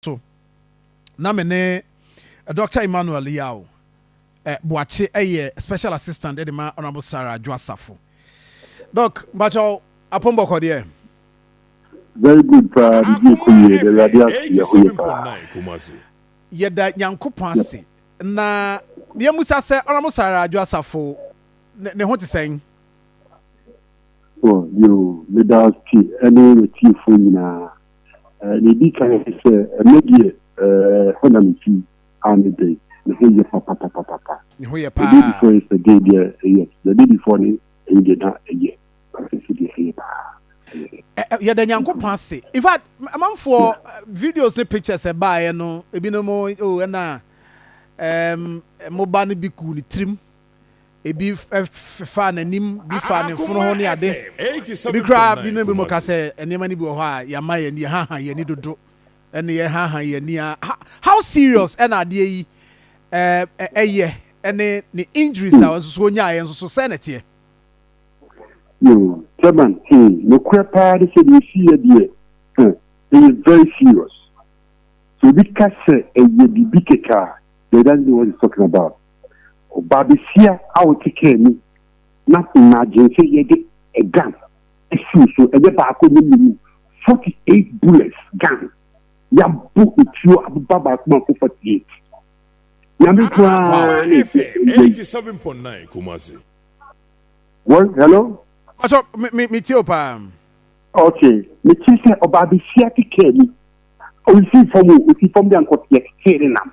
so na me ne Dɔkta Emmanuel Yaw Boakye yɛ Special Assistant de ma Honourable Sarah Adwo Asafo. Doc, mpakyɛw, Apon Bɔkɔ deɛ? Very good paa, biribi ɛkɔ yie, yɛda Awurade ase, yɛ ho yie paa. Yɛda Nyankopɔn ase, na yɛ musa sɛ Honourable Sarah Adwo Asafo ne ho te sɛn? Oh, yoo, meda ase ɛne w'atiefoɔ nyinaa. Nea edi kan ne sɛ, ɛno deɛ, ɛhɔ na mifi, a ne dɛn? Ne ho yɛ papapapapa. Ne ho yɛ paa. The day before yesterday deɛ, ɛyɛ. The day before ne, ɛno deɛ na ɛyɛ. But seesei deɛ, ɛyɛ paa. Ɛyɛ dɛ. Yɛda Nyankopɔn ase. In fact, amanfoɔ videos ne pictures a ɛbaeɛ no, ebinom, oh, ɛna ɛɛm mo ba no bi guu ne tirim Ebi faa n'anim, bi faa ne fono ho ne ade. Ebi koraa bi ne bi mo ka sɛ nneɛma no bi wɔ hɔ a yɛama yɛn ani, yɛhaha yɛn ani dodo. Ɛne yɛhaha yɛn ani a how serious ɛna adeɛ yi ɛyɛ ɛne ne injuries a nso so onyaeɛ nso so sɛ na ɛteɛ. Chairman, nokorɛ paa ne sɛ deɛ ɛsiiɛ deɛ ɛyɛ very serious. Sɛ obi ka sɛ ɛyɛ biribi kɛkɛ a, then he doesn't know what he's talking about. Ɔbaabasia a ɔte kaa mu na imagine sɛ yɛde a gun asi wo so, ɛnyɛ baako ɛnyɛ mmienu, 48 bullets gun yɛabɔ etuo abeba baako mu akɔ 48. Nyame nko ara na ɛfiri ɛnda yi. 87.9 Kumasi. Wɔn, hello? Pacho, me, me, me tie wo paa. Ok, me te sɛ ɔbaabasia te kaa mu, ɔnsi fam o, ɔsi fam deɛ anka ɔteɛ, tetee ne nam.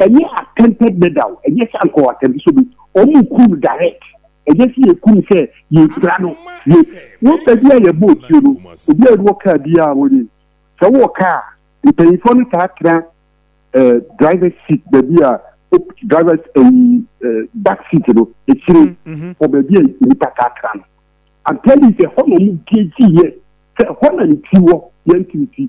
Ɛnyɛ attempted murder o, ɛnyɛ sɛ anka ɔattempt sɛ obe, wɔn kum no direct, ɛnyɛ sɛ yɛku no sɛ yɛrepira no, yɛ, wɔn baabi a yɛbɔ otuo no, obi a ɔwɔ kaa biara a wɔnim, sɛ wowɔ kaa a, mpanyinfoɔ no taa tena eh, driver's seat baabi a, op, driver's eh, eh, back seat no, akyire, wɔ baabi a nnipa taa tena no. I'm telling you sɛ ɛhɔ na wɔn gauge yɛ, sɛ ɛhɔ na ne ti wɔ, yɛn ti ne ti.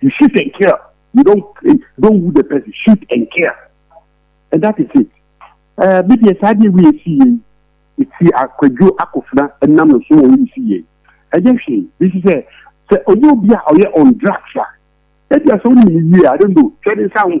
You shoot and kill. You don't eh, don't wound the person. Shoot and kill. And that is it. Uh, bi deɛ saa deɛ wei si yei. Eti akwadwo akofena nam no so wɔ wei si yei. Ɛnyɛ hwee. Bi si sɛ sɛ ɔyɛ obi a ɔyɛ on drugs a. Ebi asɛ onim ne yie a, I don't know. Twɛ ne nsa ho.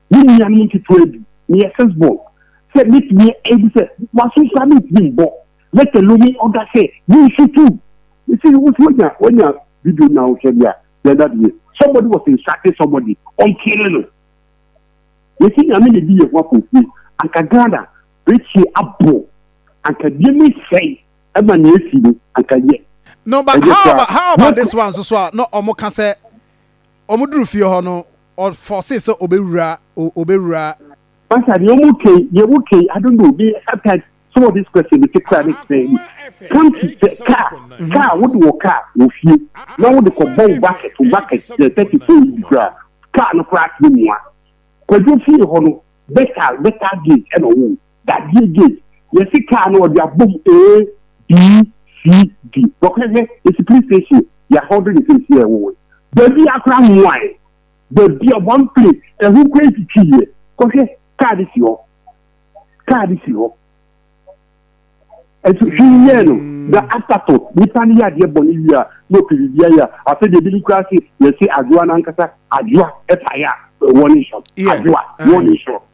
Me nuanom nketewa bi, meyɛ Sisbol, sɛ metumi ebi sɛ waso nso a mentumi mbɔ, lɛtɛ lo me ɔda sɛ mensutu. Mese no, wosi wanya wanya video na wohwɛ de a, dɛn na de yɛ? Somebody was insulting somebody, ɔnkyere no. Yɛse Nyame na edi yɛn ho akonfie, anka Ghana bekyie abɔ, anka nneɛma esɛe ɛma nea esi no anka yɛ. No but how about how about this one nso so a na ɔmo ka sɛ Wɔduruu fie hɔ no, ɔfɔɔsee sɛ ɔbɛwura, ɔbɛwura. Pastor deɛ ɔmo kɛi deɛ ɔmo kɛi I don't know me sometimes some of this question me te kura ne tena ani come to sɛ car car wo de wɔ car wɔ fie na wo de kɔ bɔ wo bucket wo bucket sɛ thirty four yi kura car no kura ase mua kwadwo fie hɔ no better better gate ɛna ɔwɔ. Dadeɛ gate yɛse car no ɔde abom A, B, C, D. Bɔkɔ hwɛ yɛse police station yɛahold ne case yɛ ɛwowoe baabiaa koraa mmoaɛ baabiaa one place ɛho koraa ntwitwiiɛ kɔhwɛ car no si hɔ car no si hɔ nso hwee nyɛɛ no na after to nipa no yɛ adeɛ bɔne wie a na ɔpɛ biribiaa yɛ a afei deɛ binom koraa se yɛse adwoa no ankasa adwoa ɛpaeɛ a wɔne nhyɛ adwoa wɔne nhyɛ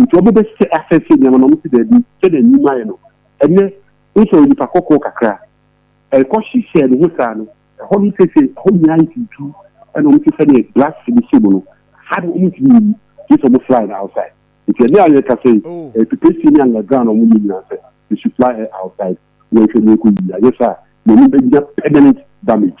Nti ɔmo bɛ sɛ asɛse nneɛma na ɔmo se daabi sɛnea nim ayɛ no ɛnɛ wosɛ onipa kɔkɔɔ kakra ɛkɔ hyehyɛɛ ne ho saa no ɛhɔ no sese ɛhɔ nyinaa ayɛ tuutuu ɛna ɔmo se sɛnea glass no hyɛ mu no ha no ɔmo ntumi nyi gye sɛ ɔmo fly no outside nti ɛnɛ a yɛ kasa yi ɛyɛ preparation ne under ground a ɔmo yɛ nyinaa sɛ they should fly her outside yɛnhwɛ nea ɛkɔ yie anyɛ saa a yɛn anim bɛ nya permanent damage.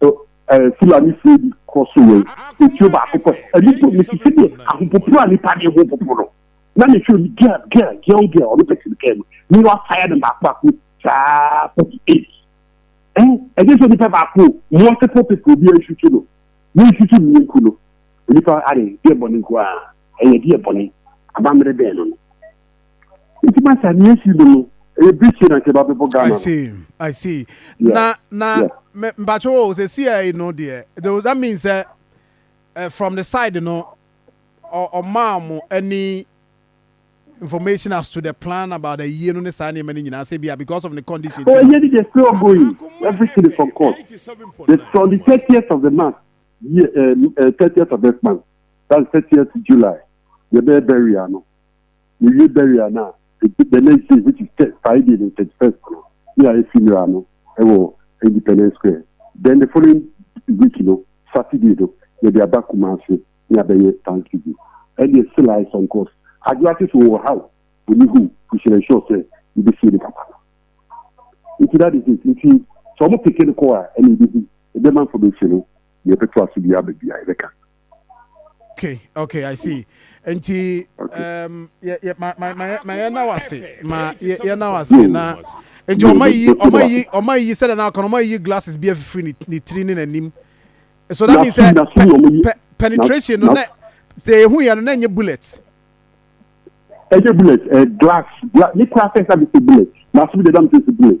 So ɛɛ Fulani fie bi kɔ so wɔ etuo baako pɛ? Ɛno mpo me te sɛ deɛ ahopopo a nipa de ho popo no. Na me hwɛ obi girl girl girl girl ɔno pɛ sini kɛɛ no ne wa fire no baako baako saa forty eight. Ɛn ɛnyɛ sɛ nipa baako multiple people bi ansusu no ne nsusu ne nku no nipa ade deɛ bɔne nko a ɛyɛ deɛ bɔne abammerɛ bɛn no no. Nti masa ni esi do no ɛyɛ birikyie na nka ɛba bɛbɔ Ghana no. I see I see yeah. na na yeah. me mpatsɛ o sɛ si ɛyi no deɛ does that mean sɛ uh, from the side no ɔmaa ɔmo ɛni information as to the plan about the year no ne saa nneɛma no nyinaa sɛ bia because of the condition. Oh, ɛyɛ ni they still going everything is on course the from the thirtieth of the month year uh, uh, thirtieth of this month that's thirtieth July yɛ bɛyɛ bɛri ano. yewie burial no a, the next day which is Friday the thirty first no na yɛayɛ funeral no wɔ Independence Square then the following week no Saturday no yɛde aba Kumasi na yɛabɛyɛ Thanksgiving ɛdeɛ still I some course Adwoa ate sɛ ɔwɔ ha o ɔni hɔ o we should ensure sɛ yɛbɛsie ne papa no nti that is it nti sɛ ɔmo peke no kɔ a ɛna yɛbɛhu ɛbɛma information no na yɛbɛto aso bi aba bi a yɛbɛka. okay okay i see nti um, yɛ yɛ ma ma ma ma yɛ na wase ma yɛ yɛ na wase na nti ɔma yi ɔma yi ɔma yi sɛdeɛ na ɔka no ɔma yi glasses bi afifiri ne ne tiri ne n'anim so that means sɛ pe penetration no na sɛ ehu yɛ no na nye bullet. ɛnyɛ bullet ɛ glass glass ne kura fɛn sa bi se bullet na aso bi de dam se bullet.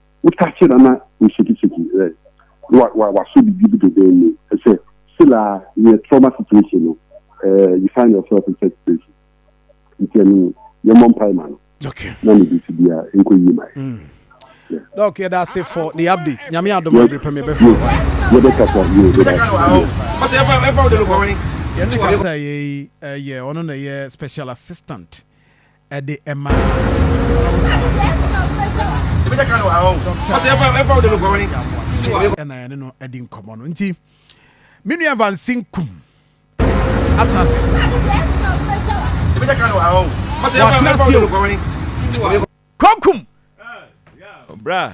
Wotase na na woshakishaki ɛ na wa wasɔ biribi bi dedain mu ɛ sɛ still aa in a trauma situation no ɛ you find yourself in such situation nti ɛno no yɛ mmɔ mpae ma no na ne biribi bia nkɔ yie ma yɛ. Doc yɛda ase for the update nyame adom a bere pɛ me bɛfrɛ wo ae. Yɛbɛkasa yɛ yɛbɛkasa. Yɛne kasa yɛ yi ɛyɛ ɔno na ɛyɛ special assistant Ɛde ɛma Hausa ne Xhosa ɛna yɛne no adi nkɔmmɔ no nti me nua Vansin Kum atena ase watena ase o Kokum bra